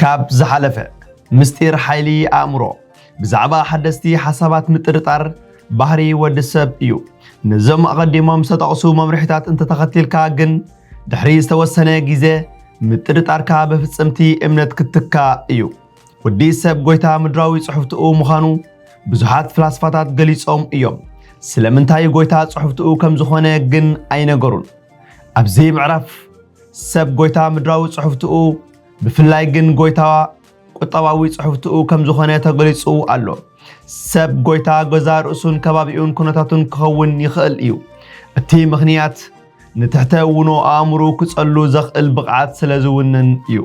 ካብ ዝሓለፈ ምስጢር ሓይሊ ኣእምሮ ብዛዕባ ሓደስቲ ሓሳባት ምጥርጣር ባህሪ ወዲ ሰብ እዩ። ነዞም ኣቐዲሞም ዝተጠቕሱ መምርሒታት እንተተኸቲልካ ግን ድሕሪ ዝተወሰነ ግዜ ምጥርጣርካ ብፍጽምቲ እምነት ክትካ እዩ። ወዲ ሰብ ጎይታ ምድራዊ ጽሑፍትኡ ምዃኑ ብዙሓት ፍላስፋታት ገሊጾም እዮም። ስለምንታይ ጎይታ ጽሑፍትኡ ከም ዝኾነ ግን ኣይነገሩን። ኣብዚ ምዕራፍ ሰብ ጎይታ ምድራዊ ጽሑፍትኡ ብፍላይ ግን ጎይታ ቁጠባዊ ጽሑፍትኡ ከም ዝኾነ ተገሊጹ ኣሎ። ሰብ ጎይታ ገዛ ርእሱን ከባቢኡን ኩነታቱን ክኸውን ይኽእል እዩ። እቲ ምኽንያት ንትሕተ-ውኖ ኣእምሮኡ ክጸሉ ዘኽእል ብቕዓት ስለ ዝውንን እዩ።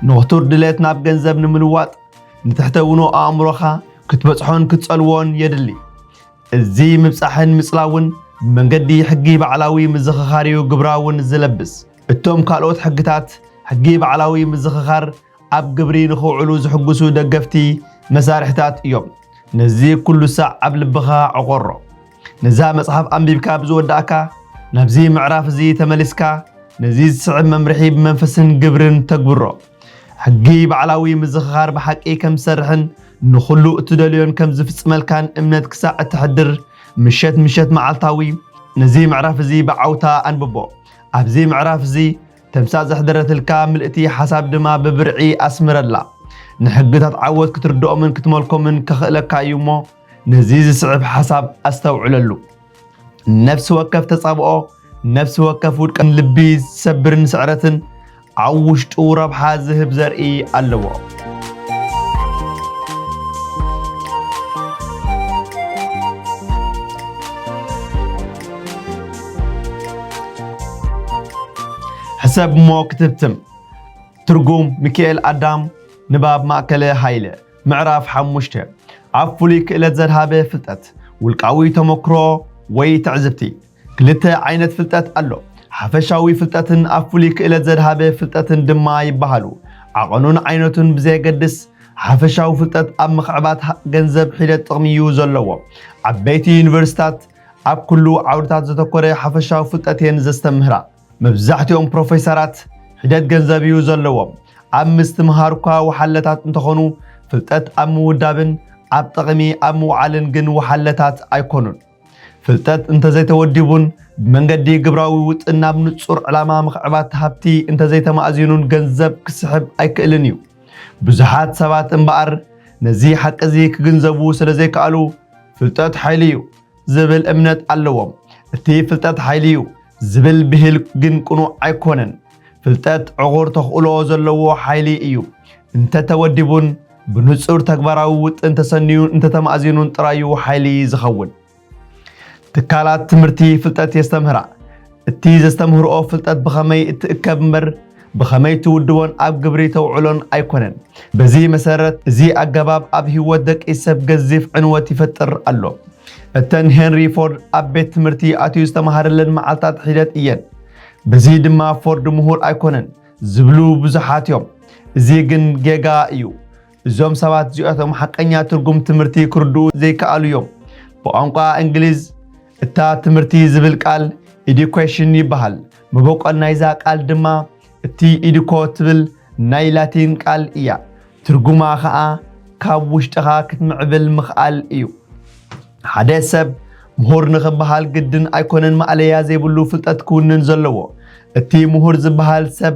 ንኽቱር ድሌት ናብ ገንዘብ ንምልዋጥ፣ ንትሕተ-ውኖ ኣእምሮኻ ክትበጽሖን ክትጸልዎን የድሊ። እዚ ምብጻሕን ምጽላውን ብመንገዲ ሕጊ ባዕላዊ ምዝኽኻር'ዩ ግብራውን ዝለብስ። እቶም ካልኦት ሕግታት፣ ሕጊ ባዕላዊ ምዝኽኻር ኣብ ግብሪ ንኽውዕሉ ዝሕጉሱ ደገፍቲ መሳርሕታት እዮም። ነዚ ኩሉ ሳዕ ኣብ ልብኻ ዕቆሮ። ነዛ መጽሓፍ ኣንቢብካ ብዝወዳእካ፣ ናብዚ ምዕራፍ እዚ ተመሊስካ ነዚ ዝስዕብ መምርሒ ብመንፈስን ግብርን ተግብሮ። ሕጊ ባዕላዊ ምዝኽኻር ብሓቂ ከም ዝሰርሕን ንኹሉ እትደልዮን ከም ዝፍጽመልካን እምነት ክሳዕ እተሕድር፣ ምሸት ምሸት መዓልታዊ ነዚ ምዕራፍ እዚ ብዓውታ ኣንብቦ። ኣብዚ ምዕራፍ እዚ ተምሳጥ ዘሕደረትልካ ምልእቲ ሓሳብ ድማ ብብርዒ ኣስምረላ። ንሕግታት ዓወት ክትርድኦምን ክትመልኮምን ከኽእለካ እዩ እሞ ነዚ ዝስዕብ ሓሳብ ኣስተውዕለሉ። ነፍሲ ወከፍ ተጻብኦ፣ ነፍሲ ወከፍ ውድቀን ልቢ ዝሰብርን ስዕረትን ኣብ ውሽጡ ረብሓ ዝህብ ዘርኢ ኣለዎ። ሕሰብ እሞ ክትብትም ትርጉም ሚካኤል ኣዳም ንባብ ማእከለ ሃይለ ምዕራፍ ሓሙሽተ ኣብ ፍሉይ ክእለት ዘድሃበ ፍልጠት ውልቃዊ ተመክሮ ወይ ትዕዝብቲ ክልተ ዓይነት ፍልጠት ኣሎ ሓፈሻዊ ፍልጠትን ኣብ ፍሉይ ክእለት ዘድሃበ ፍልጠትን ድማ ይበሃሉ ዓቐኑን ዓይነቱን ብዘየገድስ ሓፈሻዊ ፍልጠት ኣብ ምኽዕባት ገንዘብ ሒደት ጥቕሚ እዩ ዘለዎ ዓበይቲ ዩኒቨርሲታት ኣብ ኩሉ ዓውድታት ዘተኮረ ሓፈሻዊ ፍልጠት እየን ዘስተምህራ። መብዛሕትኦም ፕሮፌሰራት ሒደት ገንዘብ እዩ ዘለዎም። ኣብ ምስትምሃር እኳ ወሓለታት እንተኾኑ ፍልጠት ኣብ ምውዳብን ኣብ ጠቕሚ ኣብ ምውዓልን ግን ወሓለታት ኣይኮኑን። ፍልጠት እንተዘይተወዲቡን ብመንገዲ ግብራዊ ውጥን ናብ ንጹር ዕላማ ምኽዕባት ሃብቲ እንተዘይተማእዚኑን ገንዘብ ክስሕብ ኣይክእልን እዩ። ብዙሓት ሰባት እምበኣር ነዚ ሓቂ እዚ ክግንዘቡ ስለዘይከኣሉ ፍልጠት ሓይሊ እዩ ዝብል እምነት ኣለዎም። እቲ ፍልጠት ሓይሊ እዩ ዝብል ብሂል ግን ቅኑዕ ኣይኮነን። ፍልጠት ዕቑር ተኽእሎ ዘለዎ ሓይሊ እዩ። እንተተወዲቡን ብንጹር ተግባራዊ ውጥን ተሰንዩን እንተተማእዚኑን ጥራዩ ሓይሊ ዝኸውን። ትካላት ትምህርቲ ፍልጠት የስተምህራ። እቲ ዘስተምህርኦ ፍልጠት ብኸመይ እትእከብ እምበር ብኸመይ ትውድቦን ኣብ ግብሪ ተውዕሎን ኣይኮነን። በዚ መሰረት እዚ ኣገባብ ኣብ ህይወት ደቂ ሰብ ገዚፍ ዕንወት ይፈጥር ኣሎ። እተን ሄንሪ ፎርድ ኣብ ቤት ትምህርቲ ኣትዩ ዝተማሃረለን መዓልታት ሒደት እየን። በዚ ድማ ፎርድ ምሁር ኣይኮነን ዝብሉ ብዙሓት እዮም። እዚ ግን ጌጋ እዩ። እዞም ሰባት እዚኦቶም ሓቀኛ ትርጉም ትምህርቲ ክርድኡ ዘይከኣሉ እዮም። ብቋንቋ እንግሊዝ እታ ትምህርቲ ዝብል ቃል ኢዲኮሽን ይበሃል። መበቆል ናይዛ ቃል ድማ እቲ ኢዲኮ ትብል ናይ ላቲን ቃል እያ። ትርጉማ ኸኣ ካብ ውሽጥኻ ክትምዕብል ምኽኣል እዩ። ሓደ ሰብ ምሁር ንኽበሃል ግድን ኣይኮነን ማእለያ ዘይብሉ ፍልጠት ክውንን ዘለዎ። እቲ ምሁር ዝበሃል ሰብ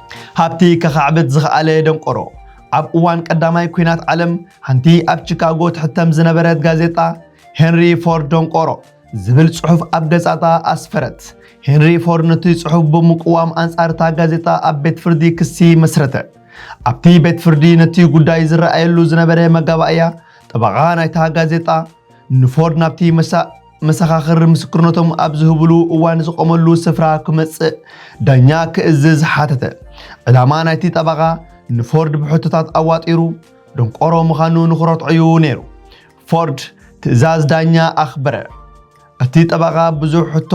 ሃብቲ ከኻዕብት ዝኸኣለ ደንቆሮ። ኣብ እዋን ቀዳማይ ኲናት ዓለም ሓንቲ ኣብ ቺካጎ ትሕተም ዝነበረት ጋዜጣ ሄንሪ ፎርድ ደንቆሮ ዝብል ጽሑፍ ኣብ ገጻታ ኣስፈረት። ሄንሪ ፎርድ ነቲ ጽሑፍ ብምቅዋም ኣንጻር እታ ጋዜጣ ኣብ ቤት ፍርዲ ክሲ መስረተ። ኣብቲ ቤት ፍርዲ ነቲ ጉዳይ ዝረኣየሉ ዝነበረ መጋባእያ ጠበቓ ናይታ ጋዜጣ ንፎርድ ናብቲ መሳ መሰኻኽር ምስክርነቶም ኣብ ዝህብሉ እዋን ዝቆመሉ ስፍራ ክመጽእ ዳኛ ክእዝዝ ሓተተ። ዕላማ ናይቲ ጠበቓ ንፎርድ ብሕቶታት ኣዋጢሩ ደንቆሮ ምዃኑ ንኽረትዖ'ዩ ነይሩ። ፎርድ ትእዛዝ ዳኛ ኣኽበረ። እቲ ጠበቓ ብዙሕ ሕቶ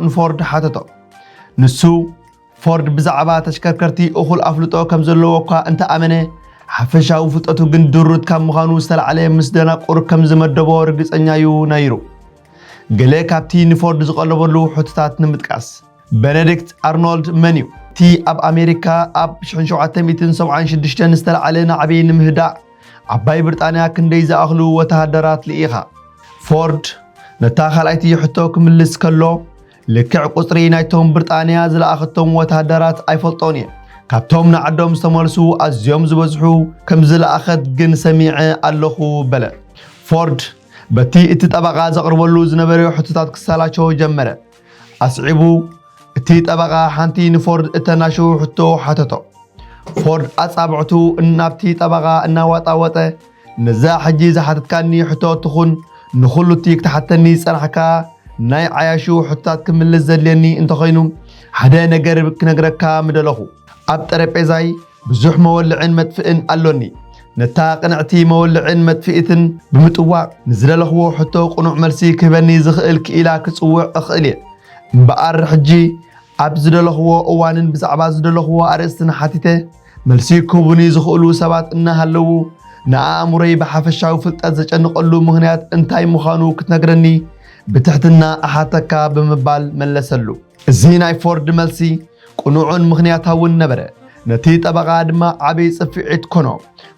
ንፎርድ ሓተቶ። ንሱ ፎርድ ብዛዕባ ተሽከርከርቲ እኹል ኣፍልጦ ከም ዘለዎ እኳ እንተ ኣመነ፣ ሓፈሻዊ ፍልጠቱ ግን ድሩት ካብ ምዃኑ ዝተላዕለ ምስ ደናቁር ከም ዝመደቦ ርግጸኛ'ዩ ነይሩ። ገለ ካብቲ ንፎርድ ዝቐለበሉ ሕቶታት ንምጥቃስ። በነዲክት ኣርኖልድ መን'ዩ? እቲ ኣብ ኣሜሪካ ኣብ 1776 ዝተላዕለ ናዕቢ ንምህዳእ ዓባይ ብርጣንያ ክንደይ ዝኣኽሉ ወተሃደራት ልኢኻ? ፎርድ ነታ ካልኣይቲ ሕቶ ክምልስ ከሎ፣ ልክዕ ቁጽሪ ናይቶም ብርጣንያ ዝለኣኸቶም ወተሃደራት ኣይፈልጦን እየ። ካብቶም ንዓዶም ዝተመልሱ ኣዝዮም ዝበዝሑ ከም ዝለኣኸት ግን ሰሚዐ ኣለኹ በለ። ፎርድ በቲ እቲ ጠበቓ ዘቕርበሉ ዝነበረ ሕቶታት ክሰላቾ ጀመረ። ኣስዒቡ እቲ ጠበቓ ሓንቲ ንፎርድ እተናሽው ሕቶ ሓተቶ። ፎርድ ኣጻብዕቱ ናብቲ ጠበቓ እናዋጣወጠ ነዛ ሕጂ ዝሓተትካኒ ሕቶ ትኹን ንኹሉ'ቲ ክትሓተኒ ዝጸናሕካ ናይ ዓያሹ ሕቶታት ክምልስ ዘድልየኒ እንተኾይኑ ሓደ ነገር ክነግረካ ምደለኹ። ኣብ ጠረጴዛይ ብዙሕ መወልዕን መጥፍእን ኣሎኒ። ነታ ቅንዕቲ መወልዕን መጥፍኢትን ብምጥዋቕ ንዝደለኽዎ ሕቶ ቅኑዕ መልሲ ክህበኒ ዝኽእል ክኢላ ክጽውዕ እኽእል'የ። እምበኣር ሕጂ ኣብ ዝደለኹዎ እዋንን ብዛዕባ ዝደለኹዎ ኣርእስትን ሓቲተ መልሲ ክህቡኒ ዝኽእሉ ሰባት እናሃለዉ፣ ንኣእምሮይ ብሓፈሻዊ ፍልጠት ዘጨንቐሉ ምኽንያት እንታይ ምዃኑ ክትነግረኒ ብትሕትና እሓተካ ብምባል መለሰሉ። እዚ ናይ ፎርድ መልሲ ቅኑዕን ምኽንያታውን ነበረ፣ ነቲ ጠበቓ ድማ ዓቢ ጽፍዒት ኮኖ።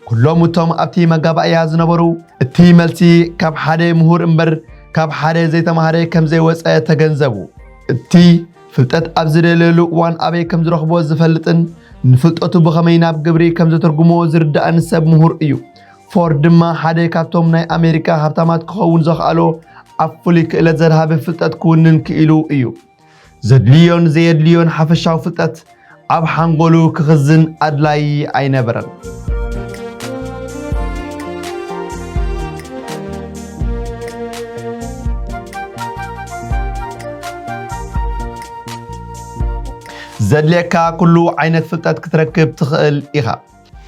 ኩሎም እቶም ኣብቲ መጋባእያ ዝነበሩ፣ እቲ መልሲ ካብ ሓደ ምሁር እምበር ካብ ሓደ ዘይተማህረ ከም ዘይወጸ ተገንዘቡ። እቲ ፍልጠት ኣብ ዝደለየሉ እዋን ኣበይ ከም ዝረኽቦ ዝፈልጥን ንፍልጠቱ ብኸመይ ናብ ግብሪ ከም ዘተርጉሞ ዝርዳእን ሰብ ምሁር እዩ። ፎርድ ድማ ሓደ ካብቶም ናይ ኣሜሪካ ሃብታማት ክኸውን ዘኽኣሎ ኣብ ፍሉይ ክእለት ዘድሃበ ፍልጠት ክውንን ክኢሉ እዩ። ዘድልዮን ዘየድልዮን ሓፈሻዊ ፍልጠት ኣብ ሓንጎሉ ክኽዝን ኣድላዪ ኣይነበረን። ዘድልየካ ኩሉ ዓይነት ፍልጠት ክትረክብ ትኽእል ኢኻ።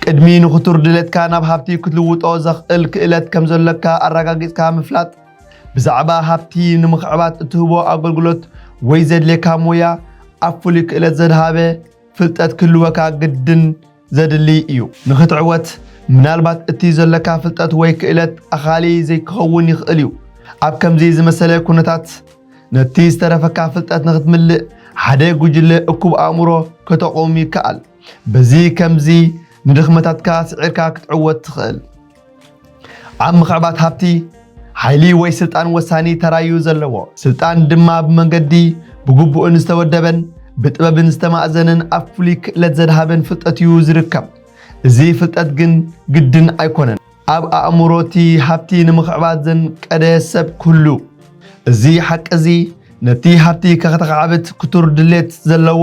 ቅድሚ ንኽቱር ድሌትካ ናብ ሃብቲ ክትልውጦ ዘኽእል ክእለት ከም ዘሎካ ኣረጋጊጽካ ምፍላጥ፣ ብዛዕባ ሃብቲ ንምኽዕባት እትህቦ ኣገልግሎት ወይ ዘድልየካ ሞያ ኣብ ፍሉይ ክእለት ዘድሃበ ፍልጠት ክህልወካ ግድን ዘድሊ እዩ። ንኽትዕወት ምናልባት እቲ ዘሎካ ፍልጠት ወይ ክእለት ኣኻሊ ዘይክኸውን ይኽእል እዩ። ኣብ ከምዚ ዝመሰለ ኩነታት ነቲ ዝተረፈካ ፍልጠት ንኽትምልእ ሓደ ጉጅለ እኩብ ኣእምሮ ከተቑም ይከኣል። በዚ ከምዚ ንድኽመታትካ ስዒርካ ክትዕወት ትኽእል። ኣብ ምኽዕባት ሃብቲ ሓይሊ ወይ ስልጣን ወሳኒ ተራዩ ዘለዎ ስልጣን ድማ ብመንገዲ ብግቡእን ዝተወደበን ብጥበብን ዝተማእዘነን ኣብ ፍሉይ ክእለት ዘድሃበን ፍልጠት እዩ ዝርከብ። እዚ ፍልጠት ግን ግድን ኣይኮነን ኣብ ኣእምሮ እቲ ሃብቲ ንምኽዕባት ዘንቀደ ሰብ ክህሉ። እዚ ሓቂ እዚ ነቲ ሃብቲ ከክተኻዕብት ክቱር ድሌት ዘለዎ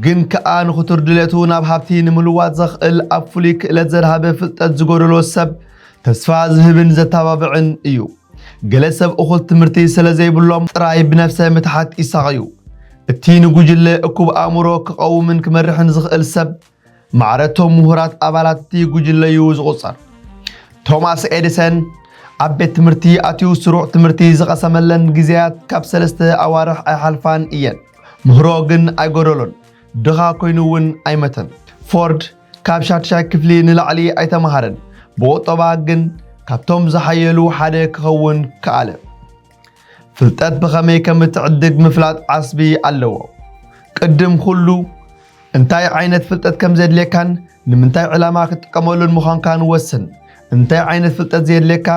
ግን ከኣ ንክቱር ድሌቱ ናብ ሃብቲ ንምልዋጥ ዘኽእል ኣብ ፍሉይ ክእለት ዘድሃበ ፍልጠት ዝጎደሎ ሰብ ተስፋ ዝህብን ዘተባብዕን እዩ። ገለ ሰብ እኹል ትምህርቲ ስለ ዘይብሎም ጥራይ ብነፍሰ ምትሓት ይሳቐዩ። እቲ ንጉጅለ እኩብ ኣእምሮ ክቐውምን ክመርሕን ዝኽእል ሰብ ማዕረ እቶም ምሁራት ኣባላት እቲ ጉጅለ እዩ ዝቑጸር። ቶማስ ኤዲሰን ኣብ ቤት ትምህርቲ ኣትዩ ስሩዕ ትምህርቲ ዝቐሰመለን ግዜያት ካብ ሰለስተ ኣዋርሕ ኣይሓልፋን እየን። ምህሮ ግን ኣይጎደሎን፣ ድኻ ኮይኑ እውን ኣይመተን። ፎርድ ካብ ሻድሻይ ክፍሊ ንላዕሊ ኣይተማሃረን፣ ብቑጠባ ግን ካብቶም ዝሓየሉ ሓደ ክኸውን ከኣለ። ፍልጠት ብኸመይ ከም እትዕድግ ምፍላጥ ዓስቢ ኣለዎ። ቅድም ኩሉ፣ እንታይ ዓይነት ፍልጠት ከም ዘድልየካን ንምንታይ ዕላማ ክትጥቀመሉን ምዃንካን ወስን። እንታይ ዓይነት ፍልጠት ዘየድልየካ፣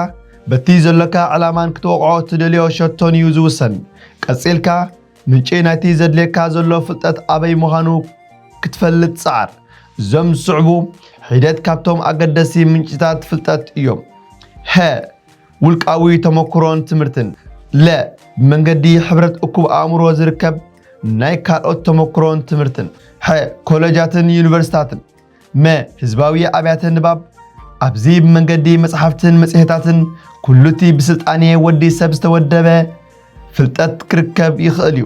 በቲ ዘሎካ ዕላማን ክትወቕዖ እትደልዮ ሸቶን እዩ ዝውሰን። ቀጺልካ፣ ምንጪ ናይቲ ዘድልየካ ዘሎ ፍልጠት ኣበይ ምዃኑ ክትፈልጥ ጸዓር። እዞም ዝስዕቡ ሒደት ካብቶም ኣገደስቲ ምንጪታት ፍልጠት እዮም። ሀ። ውልቃዊ ተመክሮን ትምህርትን ለ ብመንገዲ ሕብረት እኩብ ኣእምሮ ዝርከብ ናይ ካልኦት ተመክሮን ትምህርትን ሐ ኮለጃትን ዩኒቨርሲታትን መ ህዝባዊ ኣብያተ ንባብ ኣብዚ ብመንገዲ መጽሓፍትን መጽሔታትን ኩሉቲ ብስልጣኔ ወዲ ሰብ ዝተወደበ ፍልጠት ክርከብ ይኽእል እዩ።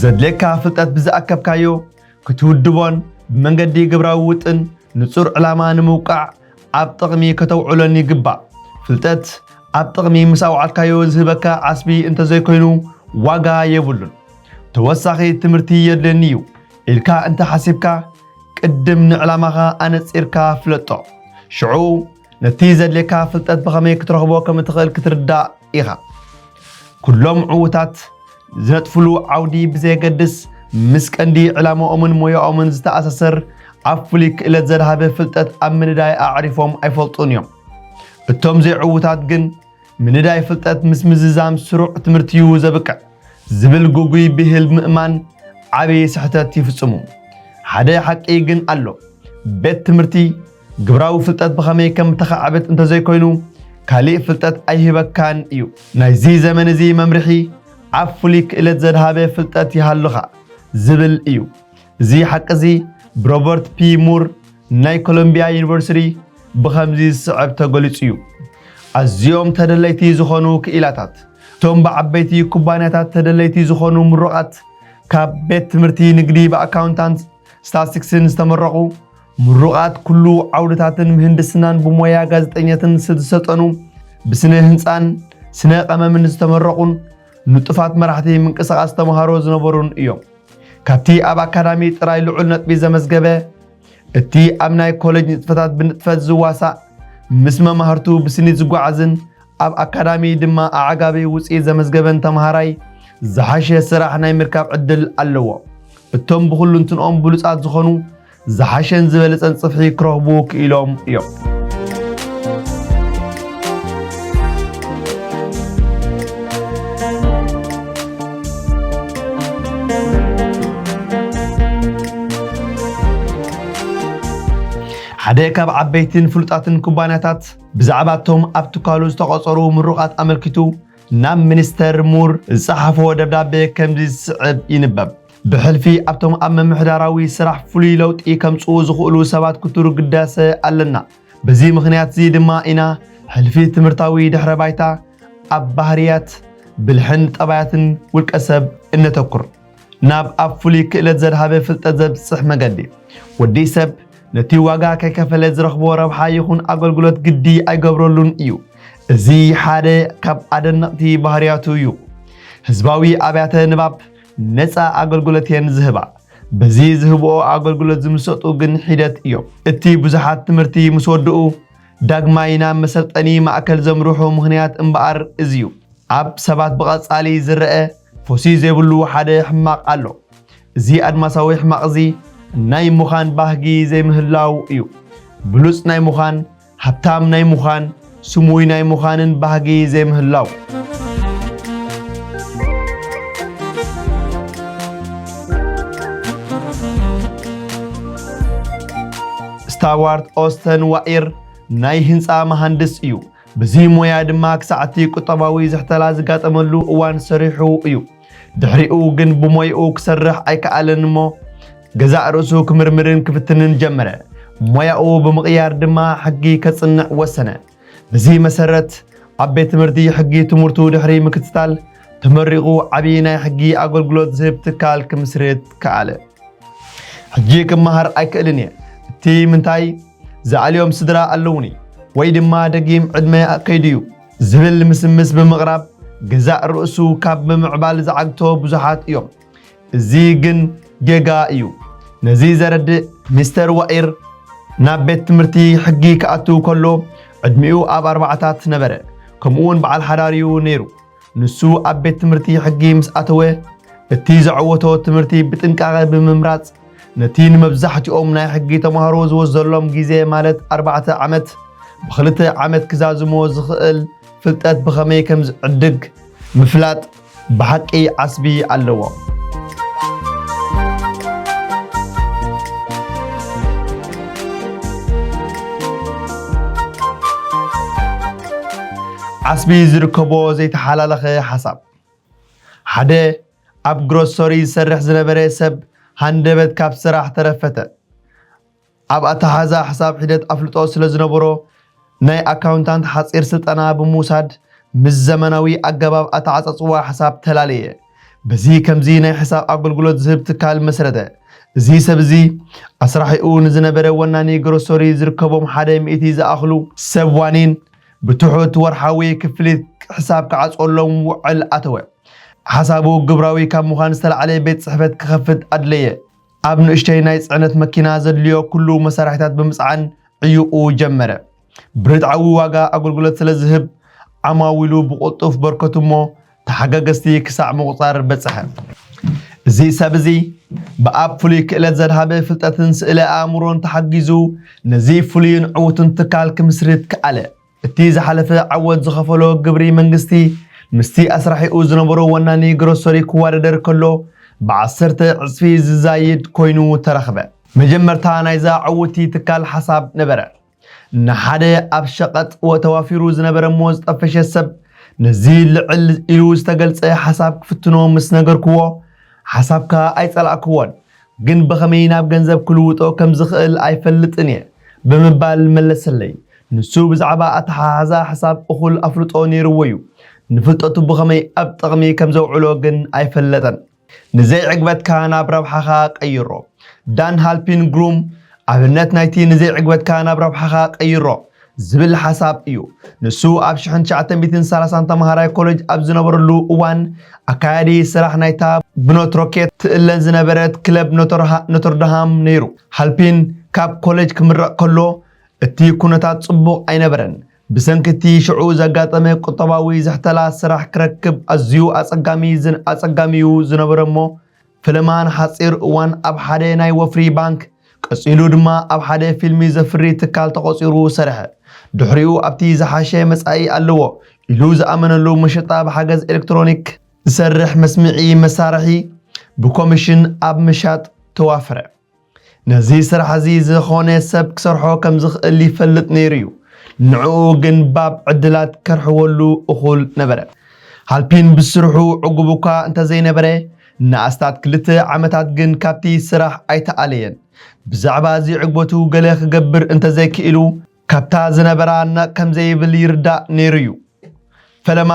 ዘድልየካ ፍልጠት ብዝኣከብካዮ ክትውድቦን ብመንገዲ ግብራዊ ውጥን ንጹር ዕላማ ንምውቃዕ ኣብ ጥቕሚ ከተውዕሎን ይግባእ። ፍልጠት ኣብ ጥቕሚ ምስ ኣውዓልካዮ ዝህበካ ዓስቢ እንተዘይኮይኑ ዋጋ የብሉን። ተወሳኺ ትምህርቲ የድልየኒ እዩ ኢልካ እንተ ሓሲብካ ቅድም ንዕላማኻ ኣነጺርካ ፍለጦ። ሽዑ ነቲ ዘድልየካ ፍልጠት ብኸመይ ክትረኽቦ ከም እትኽእል ክትርዳእ ኢኻ። ኩሎም ዕዉታት ዝነጥፍሉ ዓውዲ ብዘየገድስ ምስ ቀንዲ ዕላማኦምን ሞያኦምን ዝተኣሳሰር ኣብ ፍሉይ ክእለት ዘድሃበ ፍልጠት ኣብ ምንዳይ ኣዕሪፎም ኣይፈልጡን እዮም። እቶም ዘይዕዉታት ግን ምንዳይ ፍልጠት ምስ ምዝዛም ስሩዕ ትምህርቲ እዩ ዘብቅዕ ዝብል ጉጉይ ብሂል ምእማን ዓብዪ ስሕተት ይፍጽሙ። ሓደ ሓቂ ግን ኣሎ። ቤት ትምህርቲ ግብራዊ ፍልጠት ብኸመይ ከም እተኻዕብት እንተ ዘይኮይኑ ካልእ ፍልጠት ኣይህበካን እዩ። ናይዚ ዘመን እዚ መምርሒ ኣብ ፍሉይ ክእለት ዘድሃበ ፍልጠት ይሃሉኻ ዝብል እዩ። እዚ ሓቂ እዚ ብሮበርት ፒ ሙር ናይ ኮሎምቢያ ዩኒቨርሲቲ ብኸምዚ ዝስዕብ ተገሊጹ እዩ፣ ኣዝዮም ተደለይቲ ዝኾኑ ክኢላታት፣ እቶም ብዓበይቲ ኩባንያታት ተደለይቲ ዝኾኑ ምሩቓት፣ ካብ ቤት ትምህርቲ ንግዲ ብኣካውንታንትን ስታትስቲክስን ዝተመረቑ፣ ምሩቓት ኩሉ ዓውድታትን ምህንድስናን ብሞያ ጋዜጠኘትን ዝተሰጠኑ ብስነ ህንፃን ስነ ቀመምን ዝተመረቑን ንጡፋት መራሕቲ ምንቅስቓስ ተምሃሮ ዝነበሩን እዮም። ካብቲ ኣብ ኣካዳሚ ጥራይ ልዑል ነጥቢ ዘመዝገበ እቲ ኣብ ናይ ኮሌጅ ንጥፈታት ብንጥፈት ዝዋሳእ ምስ መማህርቱ ብስኒት ዝጓዓዝን ኣብ ኣካዳሚ ድማ ኣዕጋቢ ውፅኢት ዘመዝገበን ተምሃራይ ዝሓሸ ስራሕ ናይ ምርካብ ዕድል ኣለዎ። እቶም ብኹሉ እንትንኦም ብሉፃት ዝኾኑ ዝሓሸን ዝበለጸን ጽፍሒ ክረኽቡ ክኢሎም እዮም። ሓደ ካብ ዓበይትን ፍሉጣትን ኩባንያታት ብዛዕባ እቶም ኣብ ትካሉ ዝተቖጸሩ ምሩቓት ኣመልኪቱ ናብ ሚኒስተር ሙር ዝጸሓፎ ደብዳቤ ከምዚ ዝስዕብ ይንበብ። ብሕልፊ ኣብቶም ኣብ ምምሕዳራዊ ስራሕ ፍሉይ ለውጢ ከምጽኡ ዝኽእሉ ሰባት ክትሩ ግዳሰ ኣለና። በዚ ምኽንያትዚ ድማ ኢና ሕልፊ ትምህርታዊ ድሕረ ባይታ ኣብ ባህርያት፣ ብልሕን ጠባያትን ውልቀ ሰብ እነተኩር። ናብ ኣብ ፍሉይ ክእለት ዘድሃበ ፍልጠት ዘብጽሕ መገዲ። ወዲ ሰብ ነቲ ዋጋ ከይከፈለ ዝረኽቦ ረብሓ ይኹን ኣገልግሎት ግዲ ኣይገብረሉን እዩ። እዚ ሓደ ካብ ኣደነቕቲ ባህርያቱ እዩ። ህዝባዊ ኣብያተ ንባብ ነፃ ኣገልግሎት እየን ዝህባ። በዚ ዝህብኦ ኣገልግሎት ዝምሰጡ ግን ሒደት እዮም። እቲ ብዙሓት ትምህርቲ ምስ ወድኡ ዳግማይ ናብ መሰልጠኒ ማእከል ዘምርሑ ምኽንያት እምበኣር እዚ እዩ። ኣብ ሰባት ብቐጻሊ ዝረኣ ፎሲ ዘይብሉ ሓደ ሕማቕ ኣሎ። እዚ ኣድማሳዊ ሕማቕ'ዚ ናይ ምዃን ባህጊ ዘይምህላው እዩ። ብሉጽ ናይ ምዃን፣ ሃብታም ናይ ምዃን፣ ስሙይ ናይ ምዃንን ባህጊ ዘይምህላው። ስታዋርት ኦስተን ዋኢር ናይ ህንፃ መሃንድስ እዩ። ብዚ ሞያ ድማ ክሳዕቲ ቁጠባዊ ዝሕተላ ዝጋጠመሉ እዋን ሰሪሑ እዩ። ድሕሪኡ ግን ብሞይኡ ክሰርሕ ኣይከኣለን እሞ ገዛእ ርእሱ ክምርምርን ክፍትንን ጀመረ። ሞያኡ ብምቕያር ድማ ሕጊ ከጽንዕ ወሰነ። በዚ መሰረት ኣብ ቤት ትምህርቲ ሕጊ ትምህርቱ ድሕሪ ምክትታል ተመሪቑ ዓብዪ ናይ ሕጊ ኣገልግሎት ዝህብ ትካል ክምስርት ከኣለ። ሕጂ ክመሃር ኣይክእልን እየ እቲ ምንታይ ዝኣልዮም ስድራ ኣለውኒ ወይ ድማ ደጊም ዕድመ ከይዱ እዩ ዝብል ምስምስ ብምቕራብ ገዛእ ርእሱ ካብ ምምዕባል ዝዓግቶ ብዙሓት እዮም። እዚ ግን ጌጋ እዩ። ነዚ ዘረድእ ሚስተር ዋኢር ናብ ቤት ትምህርቲ ሕጊ ክኣቱ ከሎ ዕድሚኡ ኣብ ኣርባዕታት ነበረ። ከምኡውን በዓል ሓዳር እዩ ነይሩ። ንሱ ኣብ ቤት ትምህርቲ ሕጊ ምስ ኣተወ እቲ ዘዐወቶ ትምህርቲ ብጥንቃቐ ብምምራጽ ነቲ ንመብዛሕትኦም ናይ ሕጊ ተማሃሮ ዝወስደሎም ግዜ ማለት ኣርባዕተ ዓመት ብኽልተ ዓመት ክዛዝሞ ዝኽእል ፍልጠት ብኸመይ ከም ዝዕድግ ምፍላጥ ብሓቂ ዓስቢ ኣለዎ። ዓስቢ ዝርከቦ ዘይተሓላለኸ ሓሳብ ሓደ ኣብ ግሮሶሪ ዝሰርሕ ዝነበረ ሰብ ሃንደበት ካብ ስራሕ ተረፈተ። ኣብ ኣተሓሕዛ ሕሳብ ሒደት ኣፍልጦ ስለ ዝነበሮ ናይ ኣካውንታንት ሓጺር ስልጠና ብምውሳድ ምስ ዘመናዊ ኣገባብ ኣተዓጻጽዋ ሕሳብ ተላለየ። በዚ ከምዚ ናይ ሕሳብ ኣገልግሎት ዝህብ ትካል መስረተ። እዚ ሰብ እዚ ኣስራሒኡ ንዝነበረ ወናኒ ግሮሶሪ ዝርከቦም ሓደ ሚእቲ ዝኣኽሉ። ሰብ ዋኒን ብትሑት ወርሓዊ ክፍሊት ሕሳብ ክዓጽወሎም ውዕል ኣተወ። ሓሳቡ ግብራዊ ካብ ምዃን ዝተላዕለ ቤት ጽሕፈት ክኸፍት ኣድለየ። ኣብ ንእሽተይ ናይ ጽዕነት መኪና ዘድልዮ ኩሉ መሳርሒታት ብምጽዓን ዕዩቑ ጀመረ። ብርትዓዊ ዋጋ ኣገልግሎት ስለ ዝህብ ዓማዊሉ ብቕልጡፍ በርከቱ እሞ ተሓጋገዝቲ ክሳዕ ምቑጻር በጽሐ። እዚ ሰብ እዚ ብኣብ ፍሉይ ክእለት ዘድሃበ ፍልጠትን ስእለ ኣእምሮን ተሓጊዙ ነዚ ፍሉይን ዕዉትን ትካል ክምስርት ክኣለ። እቲ ዝሓለፈ ዓወት ዝኸፈሎ ግብሪ መንግስቲ ምስቲ ኣስራሒኡ ዝነበሮ ወናኒ ግሮሰሪ ክዋደደር ከሎ ብዓሰርተ ዕጽፊ ዝዛይድ ኮይኑ ተረኽበ። መጀመርታ ናይዛ ዕውቲ ትካል ሓሳብ ነበረ። ንሓደ ኣብ ሸቐጥ ተዋፊሩ ዝነበረ'ሞ ዝጠፈሸ ሰብ ነዚ ልዕል ኢሉ ዝተገልጸ ሓሳብ ክፍትኖ ምስ ነገርኩዎ ሓሳብካ ኣይጸላእኩዎን ግን ብኸመይ ናብ ገንዘብ ክልውጦ ከም ዝኽእል ኣይፈልጥን እየ ብምባል መለሰለይ። ንሱ ብዛዕባ ኣተሓሕዛ ሕሳብ እኹል ኣፍልጦ ነይርዎ እዩ፣ ንፍልጠቱ ብኸመይ ኣብ ጥቕሚ ከም ዘውዕሎ ግን ኣይፈለጠን። ንዘይዕግበትካ ናብ ረብሓኻ ቀይሮ። ዳን ሃልፒንግሩም፣ ኣብነት ናይቲ ንዘይዕግበትካ ናብ ረብሓኻ ቀይሮ ዝብል ሓሳብ እዩ። ንሱ ኣብ ሽሕን ትሽዓተ ሚእትን ሰላሳን ተምሃራይ ኮለጅ ኣብ ዝነበረሉ እዋን ኣካያዲ ስራሕ ናይታ ብኖትሮኬት ትእለ ዝነበረት ክለብ ኖተርድሃም ነይሩ። ሃልፒን ካብ ኮለጅ ክምረቕ ከሎ እቲ ኩነታት ጽቡቕ ኣይነበረን። ብሰንኪ እቲ ሽዑ ዘጋጠመ ቁጠባዊ ዝሕተላ ስራሕ ክረክብ ኣዝዩ ኣጸጋሚ'ዩ ዝነበረ እሞ ፈለማ ንሓጺር እዋን ኣብ ሓደ ናይ ወፍሪ ባንክ፣ ቀጺሉ ድማ ኣብ ሓደ ፊልሚ ዘፍሪ ትካል ተቖጺሩ ሰርሐ። ድሕሪኡ ኣብቲ ዝሓሸ መጻኢ ኣለዎ ኢሉ ዝኣመነሉ መሸጣ ብሓገዝ ኤለክትሮኒክ ዝሰርሕ መስምዒ መሳርሒ ብኮሚሽን ኣብ ምሻጥ ተዋፈረ። ነዚ ስራሕ እዚ ዝኾነ ሰብ ክሰርሖ ከም ዝኽእል ይፈልጥ ነይሩ እዩ። ንዕኡ ግን ባብ ዕድላት ከርሕወሉ እኹል ነበረ። ሃልፒን ብስርሑ ዕጉብ እኳ እንተ ዘይነበረ፣ ንኣስታት ክልተ ዓመታት ግን ካብቲ ስራሕ ኣይተኣለየን። ብዛዕባ እዚ ዕግበቱ ገለ ክገብር እንተ ዘይክኢሉ፣ ካብታ ዝነበራ ኣናቕ ከም ዘይብል ይርዳእ ነይሩ እዩ። ፈለማ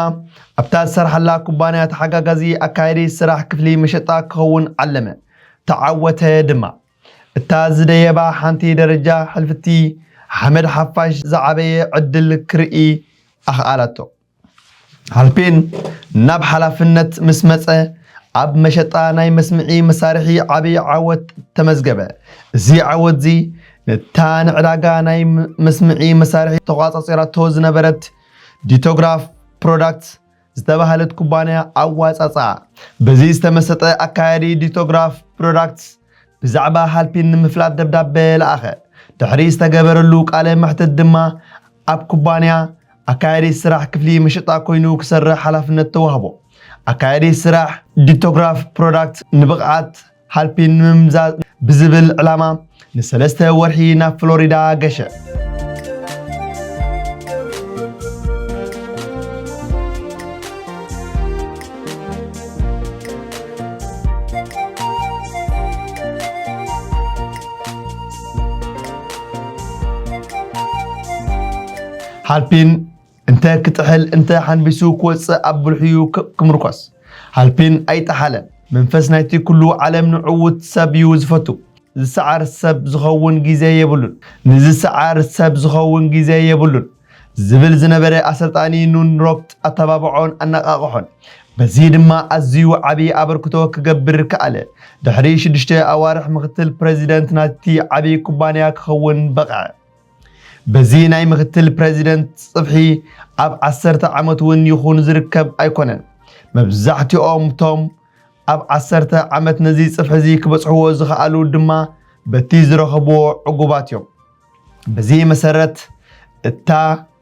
ኣብታ ዝሰርሓላ ኩባንያ ተሓጋጋዚ ኣካያዲ ስራሕ ክፍሊ መሸጣ ክኸውን ዓለመ፣ ተዓወተ ድማ። እታ ዝደየባ ሓንቲ ደረጃ ሕልፍቲ ሓመድ ሓፋሽ ዝዓበየ ዕድል ክርኢ ኣኽኣላቶ። ሃልፔን ናብ ሓላፍነት ምስ መፀ ኣብ መሸጣ ናይ መስምዒ መሳርሒ ዓብዪ ዓወት ተመዝገበ። እዚ ዓወትዚ ነታ ንዕዳጋ ናይ መስምዒ መሳርሒ ተቋፃፂራቶ ዝነበረት ዲቶግራፍ ፕሮዳክትስ ዝተባህለት ኩባንያ ኣዋፃፅኣ። በዚ ዝተመሰጠ ኣካያዲ ዲቶግራፍ ፕሮዳክትስ ብዛዕባ ሃልፒን ንምፍላጥ ደብዳበ ለኣኸ። ድሕሪ ዝተገበረሉ ቃለ መሕትት ድማ ኣብ ኩባንያ ኣካያዲ ስራሕ ክፍሊ መሸጣ ኮይኑ ክሰርሕ ሓላፍነት ተዋህቦ። ኣካያዲ ስራሕ ዲቶግራፍ ፕሮዳክት ንብቕዓት ሃልፒን ንምምዛዝ ብዝብል ዕላማ ንሰለስተ ወርሒ ናብ ፍሎሪዳ ገሸ። ሃልፒን እንተ ክጥሕል እንተ ሓንቢሱ ክወጽእ ኣብ ብልሑዩ ክምርኮስ። ሃልፒን ኣይጠሓለን። መንፈስ ናይቲ ኩሉ ዓለም ንዕዉት ሰብ እዩ ዝፈቱ። ዝሰዓር ሰብ ዝኸውን ግዜ የብሉን። ንዝሰዓር ሰብ ዝኸውን ግዜ የብሉን። ዝብል ዝነበረ ኣሰልጣኒ ኑን ሮፕት ኣተባብዖን ኣነቓቕሖን። በዚ ድማ ኣዝዩ ዓቢ ኣበርክቶ ክገብር ከኣለ። ድሕሪ ሽዱሽተ ኣዋርሕ ምኽትል ፕረዚደንት ናይቲ ዓቢ ኩባንያ ክኸውን በቕዐ። በዚ ናይ ምክትል ፕረዚደንት ጽፍሒ ኣብ ዓሰርተ ዓመት እውን ይኹን ዝርከብ ኣይኮነን። መብዛሕትኦም ቶም ኣብ ዓሰርተ ዓመት ነዚ ጽፍሒ እዚ ክበጽሕዎ ዝኸኣሉ ድማ በቲ ዝረኸብዎ ዕጉባት እዮም። በዚ መሰረት እታ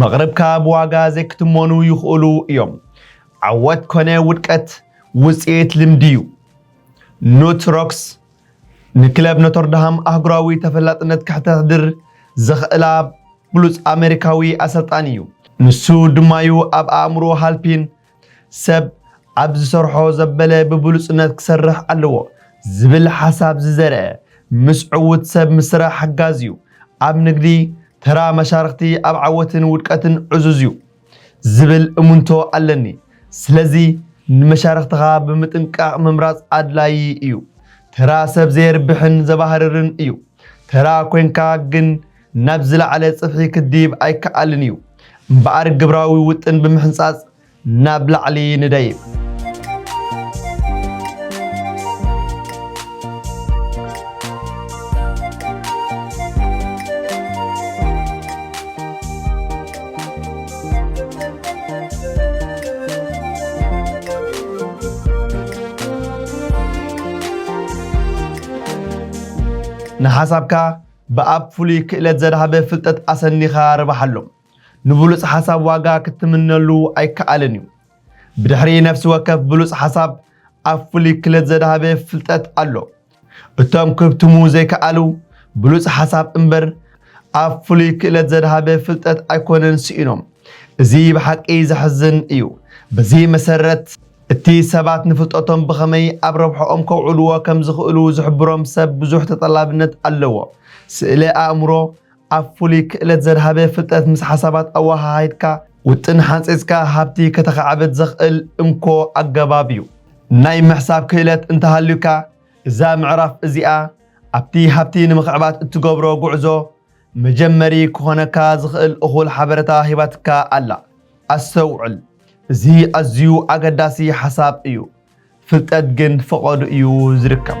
መቕርብካ ብዋጋ ዘይክትመኑ ይኽእሉ እዮም። ዓወት ኮነ ውድቀት ውጽኢት ልምዲ እዩ። ኑት ሮክስ ንክለብ ኖተርድሃም ኣህጉራዊ ተፈላጥነት ከሕተሕድር ዘኽእላ ብሉጽ ኣመሪካዊ ኣሰልጣኒ እዩ። ንሱ ድማ'ዩ ኣብ ኣእምሮ ሃልፒን ሰብ ኣብ ዝሰርሖ ዘበለ ብብሉጽነት ክሰርሕ ኣለዎ ዝብል ሓሳብ ዝዘርአ ምስ ዕዉት ሰብ ምስራሕ ሓጋዚ እዩ። ኣብ ንግዲ ተራ መሻርኽቲ ኣብ ዓወትን ውድቀትን ዕዙዝ እዩ ዝብል እሙንቶ ኣለኒ። ስለዚ ንመሻርኽትኻ ብምጥንቃቕ ምምራጽ ኣድላዪ እዩ። ተራ ሰብ ዘየርብሕን ዘባህርርን እዩ። ተራ ኮይንካ ግን ናብ ዝለዓለ ጽፍሒ ክድይብ ኣይከኣልን እዩ። እምበኣር ግብራዊ ውጥን ብምሕንጻጽ ናብ ላዕሊ ንደይብ። ንሓሳብካ ብኣብ ፍሉይ ክእለት ዘድሃበ ፍልጠት ኣሰኒኻ ርባሓሉ። ንብሉጽ ሓሳብ ዋጋ ክትምነሉ ኣይከኣልን እዩ። ብድሕሪ ነፍሲ ወከፍ ብሉጽ ሓሳብ ኣብ ፍሉይ ክለት ዘድሃበ ፍልጠት ኣሎ። እቶም ክህብትሙ ዘይከኣሉ ብሉጽ ሓሳብ እምበር ኣብ ፍሉይ ክእለት ዘድሃበ ፍልጠት ኣይኮነን ስኢኖም። እዚ ብሓቂ ዘሕዝን እዩ። በዚ መሰረት። እቲ ሰባት ንፍልጠቶም ብኸመይ ኣብ ረብሓኦም ከውዕልዎ ከም ዝኽእሉ ዝሕብሮም ሰብ ብዙሕ ተጠላብነት ኣለዎ። ስእለ ኣእምሮ፣ ኣብ ፍሉይ ክእለት ዘድሃበ ፍልጠት ምስ ሓሳባት ኣወሃሃድካ፣ ውጥን ሓንጺጽካ ሃብቲ ከተኻዕብት ዘኽእል እንኮ ኣገባብ እዩ። ናይ ምሕሳብ ክእለት እንተሃልዩካ፣ እዛ ምዕራፍ እዚኣ ኣብቲ ሃብቲ ንምኽዕባት እትገብሮ ጉዕዞ መጀመሪ ክኾነካ ዝኽእል እኹል ሓበረታ ሂባትካ ኣላ። ኣስተውዕል እዚ ኣዝዩ ኣገዳሲ ሓሳብ እዩ። ፍልጠት ግን ፈቐዱ እዩ ዝርከብ።